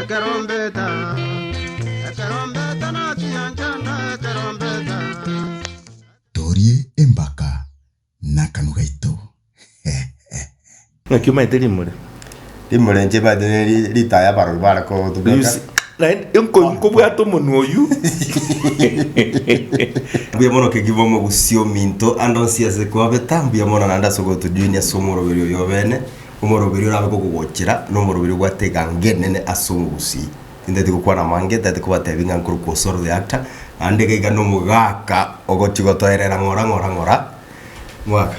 Ekerombeta, ekerombeta nachiya nchanda ekerombeta. Torie embaka nakanu gaito hehehe. Naki omaete rimure. Rimure inche ebaete neri ritaya abarori bare kotubeka. Naende nko nkobwate omonwa oywo. Mbuya mono Kegima omogusia ominto ande onsi ase kwabeta mbuya mono naende ase ogotojoinia ase omoroberio oyo obene. Omoroberi orabe kogogochera nomoroberi obwate egangenene ase omogusii. Tintati gokwana amange, tintati kobatebi ng'a nkorokwa osoro the actor, naende iga iga nomogaka ogochi gotoerera ng'ora ng'ora ng'ora mwaka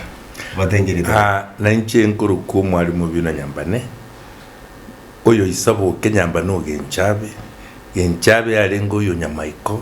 batengerete. Aa, nainche nkorokwa omwalimu o Bina Nyambane, oyo isaboke Nyambane o Genchabe, Genchabe yarenge oyo Nyamaiko,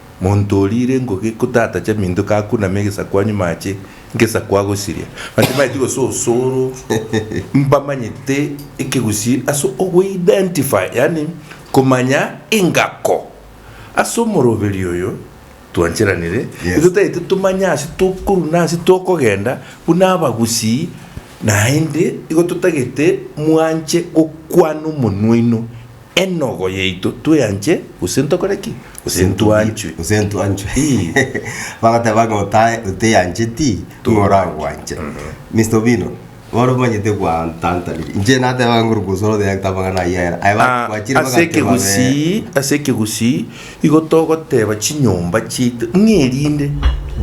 Monto oriire ngoge ko tatacha minto kakuname egesaku anyuma ache ngesaku agosiria. Batimaeti gose osoro mbamanyete ekegusii ase ogo identify yaani komanya engako ase omoroberi oyo twancheranire Yes. totaete tomanye ase tokorwa na ase tokogenda buna abagusii naende igo totagete mwanche gokwana omonwa oino Enogo yaito tweanche, gose ntokore ki? Gose ntwanchwe? Gose ntwanchwe. Ii. Bagoteba ng'a otae oteyancheti, nigo oragwanche. Mister Obino, bono omanyete gwantantaniri. Inche nateba ng'a nguru gose oro oteyancheti amang'ana ayio ayera. Aye Ah, bagwachire ase bagateba be. ekegusii ase ekegusii igo togoteba chinyomba chiaito ng'erinde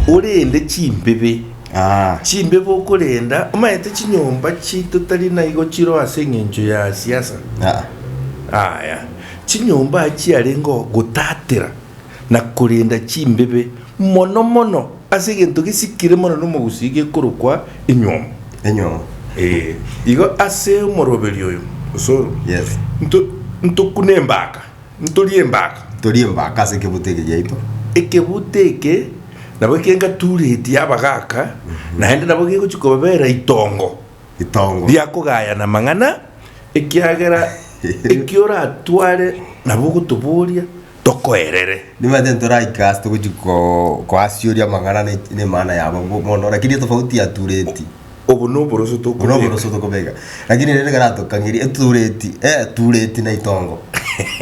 orende chimbibe Aa! Chimbe bokorenda, omaete chinyomba chiito tari naigo chiroo ase engencho ya siasa? Aa! Aya, chinyomba achiarengeo gotatera na korenda chimbebe mono mono ase egento gesikire mono nomogusii gekorokwa enywomo. Enywomo. Ee, igo ase omoroberio oyo, osoro, Yes. nto, ntokune embaka. Ntorie embaka. Ntorie embaka ase ekebuto eke giaito. Ekebuto eke nabo ekio ngaturetie abagaaka, naende nabo gegochia kobabera itongo Itongo. ria kogayana amang'ana, ekiagera ekio oratware nabo ogotoboria tokoerere. Nimanyete ntoraike ase togochia ko- koasioria amang'ana ne- nemana yabo bo- bono, rakini etofauti yatureti. Obo noboroso Obo tokobeka. noboroso tokobeka. Lakini rende ekero atokang'iri etureti, etureti na itongo.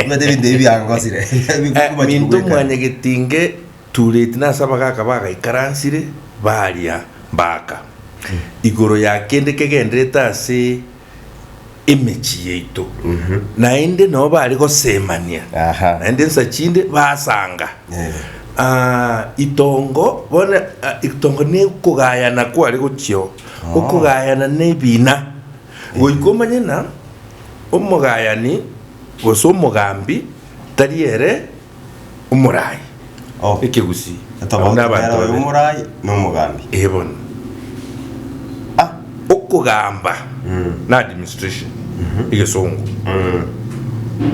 Omanyete ebinto ebi biangosire. Eh, minto mwanyegeti nge tureti na ase abagaka bagaikaransire baria mbaka igoro ya kende kegenderete ase emechie yaito, naende nabo bare gosemania, Aha. naende ensa chinde basanga. Eh. Ah, itongo bono ah, itongo ne okogayana kware gochio, okogayana ne ebina, goika omanye na omogayani gose omogambi tari ere omoraai. O, ekegusii, Abwo etobauti nabanto kera oyo babe. omoraai na omogambi. Ee bono. A, okogamba na administration, egesongo.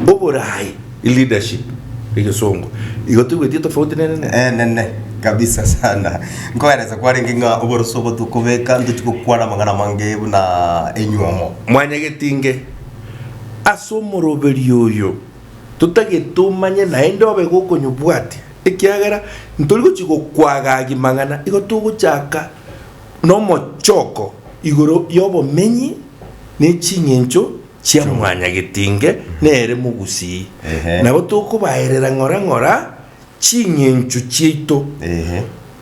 Oboraai, leadership, egesongo. Igo toigwetie tofauti nere nere? Enene kabisa sana. Nkoerese kwarenge ng'a oboroso obo tokobeka ntochi gokwana amang'ana amange buna enywomo. Mwanyagetinge ase omoroberio oyo. totagete tomanye naende obe iga okonyobwatia, ekiagera ntori gochia gokwaga agi mang'ana igo togochaka nomochoko igoro y'obomenyi ne ching'encho chia mwanyagetinge nere mogusii. Nabo tokobaerera ng'ora ng'ora ching'encho chiaito,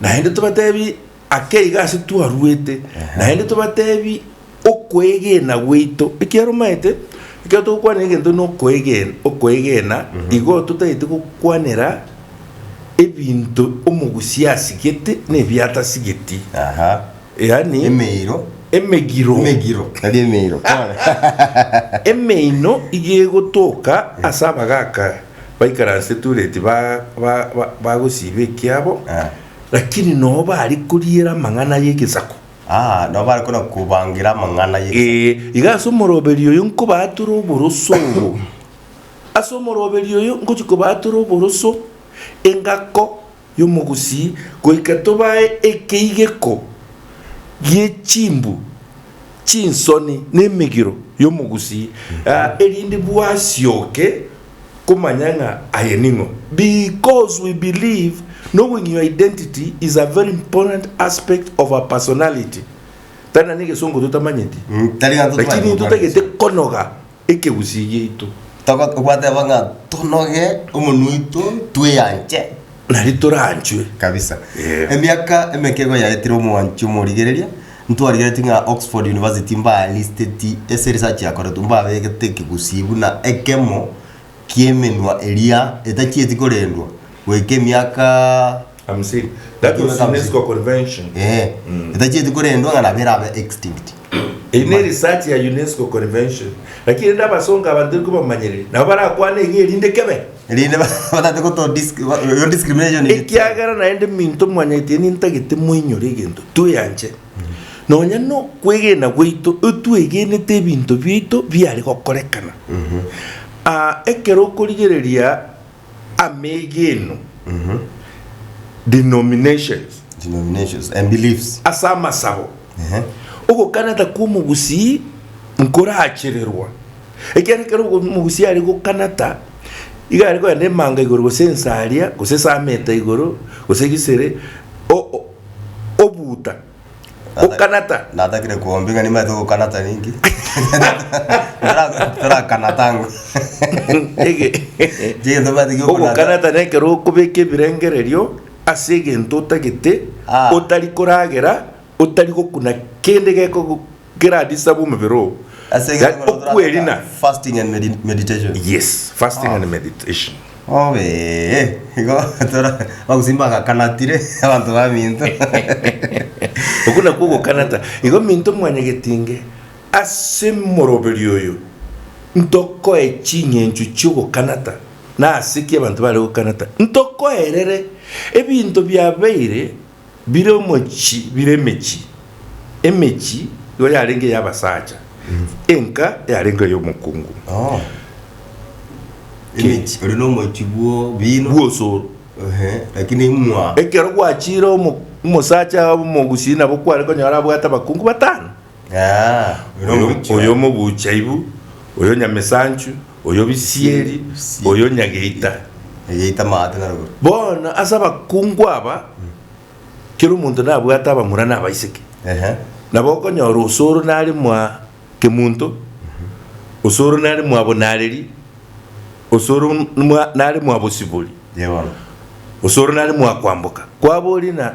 naende tobatebie Ake iga ase twaruete, naende tobatebi okoegena gwaito ekiarumaete. Ekero togokwanera egento na okoegen- okoegena, igo totagete gokwanera ebinto omogusi asigete na ebiatasigeti, Aha. yaani Emeiro. emegiro Emegiro. Tari emeiro. Kore. emeino iga egotoka ase abagaka baikaranse Tureti ba- ba- ba- bagosiba ekiabo Ah. Lakini noo bare koriera amang'ana y'egesaku. Aa, nao bare kona kobangira amang'ana ye. Ee, iga ase omoroberi oyo nkobaatore oboroso obo. Ase omoroberi oyo ngochia kobaatore oboroso, engako y'omogusii, goika tobae ekeigeko gie chimbu, chinsoni, na emegiro y'omogusii, aa, erinde bwasioke komanya ng'a aye ning'o. Because we believe knowing your identity is a very important aspect of our personality tari na negesongo totamanyeti Mm, tari na totamanyeti lakini gotoka intotagete konoga ekegusii giaito Togo- okwateba ng'a tonoge omonwa oito tweyanche nari toranchwe kabisa Yeah. emiaka emeke igo yaetire omwanchi omorigereria Ntwarigereti ng'a Oxford University mbaaristeti ase research yakoretwe mbabegete ekegusii buna ekemo ki'emenwa eria etachieti korendwa goika emiaka Hamsini. That was Emiaka hamsini. UNESCO convention. Ee, etachieti korendwa ng'a nabo erabe extinct. Eyio ne research ya UNESCO convention. Lakini rende abasongo aba ntari kobamanyereri, nabo barakwane iga erinde kebe. Erinde batate goto dis- ba- yo discrimination eye. ekiagera naende minto mwanyaite nintagete moinyore egento tweyanche nonya nokwegena gwaito otwegenete ebinto biaito biare gokorekana Ah, ekero okorigereria amegeno denominations Denominations and beliefs. ase amasabo Ehe. ogokaneta kwa omogusii nkorachererwa Ekiagera ekero ogo omogusia are gokanata, iga are kogenda emanga igoro gose ensaria, gose esameta igoro, gose egisere, o- o- obuuta, gokanata. Natakire kuombi ng'a nimaete gokanata ninki? Tara- Tarakanata ng'o? Ege- Chigento mbaete giokanata. Ogokanata nekero okobeka ebirengererio ase egento otagete, Ah. otari koragera, otari gokuna kende gekogo. Keradisa bw'omobere oo, Ase egento yaani korwa torataka okwerina. fasting and medi- meditation. Yes, fasting and meditation. Obe igo tora bagusimi bagakanatire abanto ba minto. Okwo nakwo ogokanata. Igo minto mwanyagetinge ase moroberi oyo ntokoe ching'encho chi'ogokanata nase ki abanto bare gokanata. Ntokoerere ebinto biabeire bire omochi bire emechi, emechi igo yarenge ey'abasacha, enka yarenge ey'omokungu Oh. Emechi, ore nomochi bwo bino. bw'osoro. Ehe, lakini imwa. Ekero gwachire omo- omosacha omogusi nabo kware konyora abwate abakungu batano. Aa, oyo oyo omobuuchi oyo oye. omobuuchi aibu, oyo nyamesanchu, oyo bisieri, Bisieri. oyo nyageita. Egeita amaate na rogoro. Bono ase abakungu aba, kera omonto nabwate abamura na abaiseke. Ehe. Nabo okonyora osoro nare mwa kemunto, osoro nare mwa bonareri, osoro mwa- nare mwa bosibori, Yee bono. osoro nare mwa kwamboka. Kwaboria na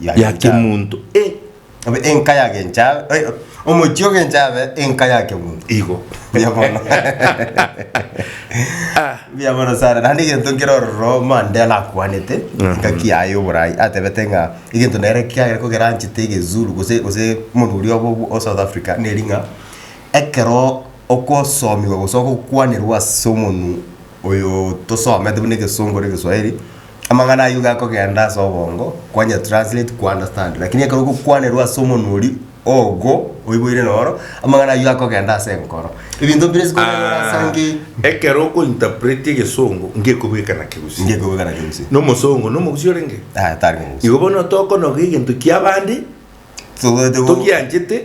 ya kemonto, e. Abe enka ya genchabe, eh, omochie o genchabe enka ya kemonto. Igo. Buya mono. Ah. Buya mono sana. Naende egento nkere ororo Mandela akwanete, engaki yaye ya oborai, atebete ng'a egento nere kiagera ko keranchete egezulu gose gose omonto oria obo o South Africa neri ng'a ekero okosomiwa gose ogokwanerwa ase omonwe oyo tosomete buna egesongo na egeswahili, Amang'ana ayio iga akogenda ase obongo kwanya translate ku understand lakini ekero ogokwanerwa ase omonwa oria ogo oiboire noro amang'ana ayio akogenda ase enkoro ebinto bire ase Ah, nge ekero oko interpret egesongo ngekobeka na kegusii ngekobeka na kegusii nomosongo nomogusi orenge ah tari mogusi igo bono tokonoga egento kiabande togianchete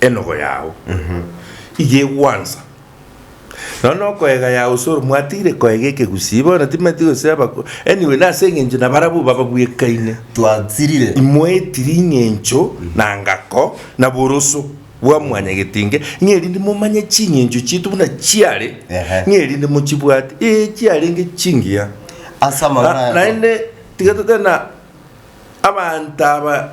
Enogo yao iga egwansa, nonya nokoega yao soro mwatiire koega ekegusii bono timati goseba ko anyway nase engencho nabarabwo bababwekaine Twasirire. imoetiri ing'encho na ngako na boroso bwa mwanyagetinge ng'erinde momanye ching'encho chiaito buna chiare Ehe. ng'erinde mochibwate ee chiarenge chingiya Ase amang'ana Na- ayako. naende tiga totebe na abanto aba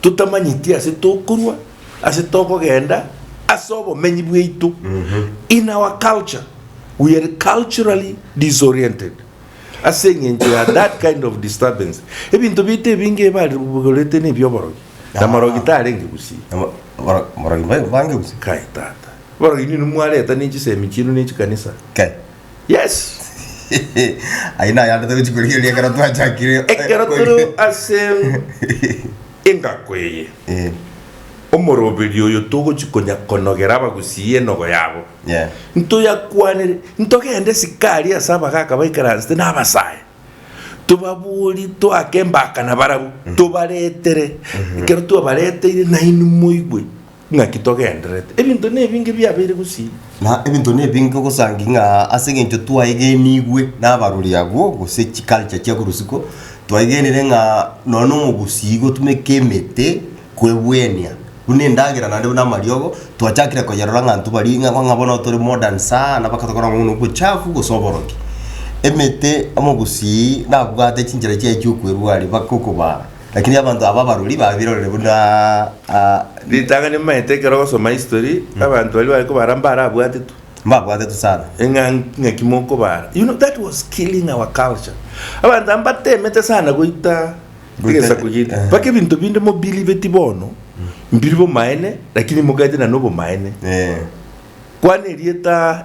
totamanyeti ase tokorwa, ase tokogenda, ase obomenyi bwaito. In our culture, we are culturally disoriented ase eng'encho ya that kind of disturbance. Ebinto biaito ebinge ebarigorete nebi oborogi, na morogi tarenge gusii. Abo- boro- borogi ba- bange gose Kai tata. Borogi nini mwareta ne chisemi chienu ne chikanisa. Kai. Yes. Ayio nayande togochi korigereria ekero twachakire. Ekero tore ase engako eye, Eh, omoroberio oyo togochi konya konogera abagusii enogo yabo. yeah. Ntoyakwanere, ntogende sikari ase abagaka baikaransete na abasaya. Tobabori toake embakana barabwo, tobaretere. Ekero twabareteire nainwe moigwe, Naki togendererete ebinto nebinge biabeire gusii. Na ebinto nebinge ogosangi ng'a ase engencho twaegenigwe nabarori agwo gose chiculture chia korosiko, twaegenire ng'a nonya na omogusii gotumeka emete kwebwenia buna endagera naende buna amariogo, twachakire koyerora ng'a intwe baria ng'a ng'a bono tore modern sana mpaka tokora ng'a bono obochafu gose oborogi. Emete omogusii nabwate chinchera chiaye chia okwerwa aria mpaka okobaa. Lakini abanto aba abarori babirorire buna Ritang'ani nimaete ekero ogosoma history abanto baria bari kobara mbare abwatetwe. Mbabwatetwe sana. Eng'a ng'aki mokobara. You know that was killing our culture. Abanto aba mbatemete sana goita Goita- egesaku gete. eh. Mpaka ebinto binde mobiliveti bono mbiri bomaene lakini mogaete na nobomaene. Eh. Kwana erieta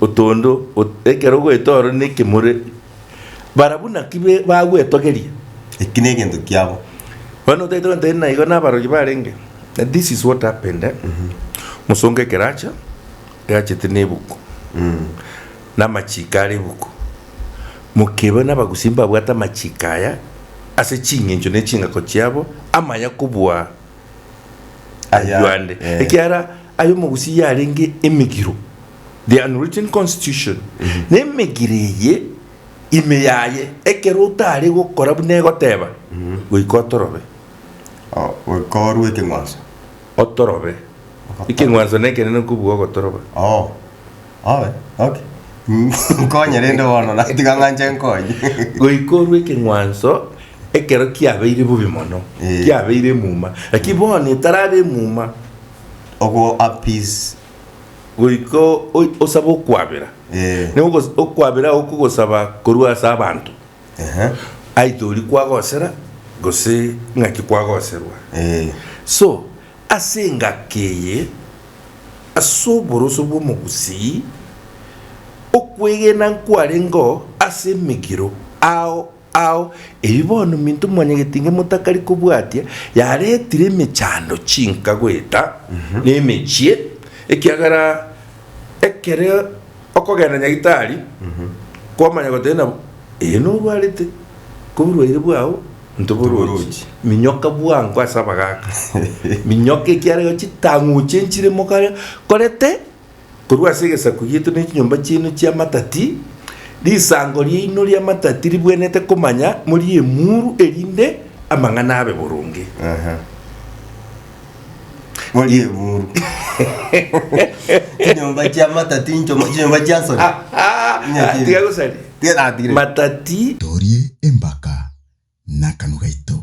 otondo, ekero ogoeta ore nekemore, barabwo naki bagwetogeria. Eki negento kiabo. Bono otaete goteba ere naigo nabarogi barenge, that this is what happened eh, mosongo ekero acha, yachete na ebuku, na amachiko are ebuku, mokeba na abagusii mbabwate amachiko aya ase ching'encho ne ching'ako chiabo, amaya kobua aywo ande, ekiagera aye omogusii yarenge emegiro, the unwritten constitution, na emegire eye ime yaye, ekero otare gokora buna egoteba, goika otorobe. O, goika orue ekeng'wanso. Otorobe. Ekeng'wanso nekenene kobua ogotoroba. Oo. Oe, okay. Nkonye rende bono, na tiga ng'anche nkonye. Goika orue ekeng'wanso ekero kiabeire bobe mono, Ee. kiabeire emuma, lakini bono etarabe emuma. Ogo appease goika osabe okwabera, nigo okwabera agwo kogosaba korwa ase abanto, aitha oria kwagosera gose ng'aki kwagoserwa. So ase engaki eye, ase oboroso bw'omogusii, okwegena nkwarengeo ase emegiro ao Ao ebi bono minto mwanyagete inge motakari kobwatia, yaretire emechando chinka goeta nemechie, ekiagera ekero okogenda nyagitari kwamanya gotari na ee norwarete, koborwaire bwao ntoborochi, minyoka bwango ase abagaka, minyoka ekiarego chitang'uche nchire mokaria korete. korwa ase egesaku gieto ne chinyomba chiaino chi'amatati, risango riaino ri'amatati ribwenerete komanya morie emuru, erinde amang'ana abe boronge. Aha. Morie emuru. Chinyomba chi'amatati nchomo, chinyomba chia nsoni. Ah, ah, Nya ah, chiri. tiga gosari. Tiga natigire. Matati Torie embaka n'akanwa gaito.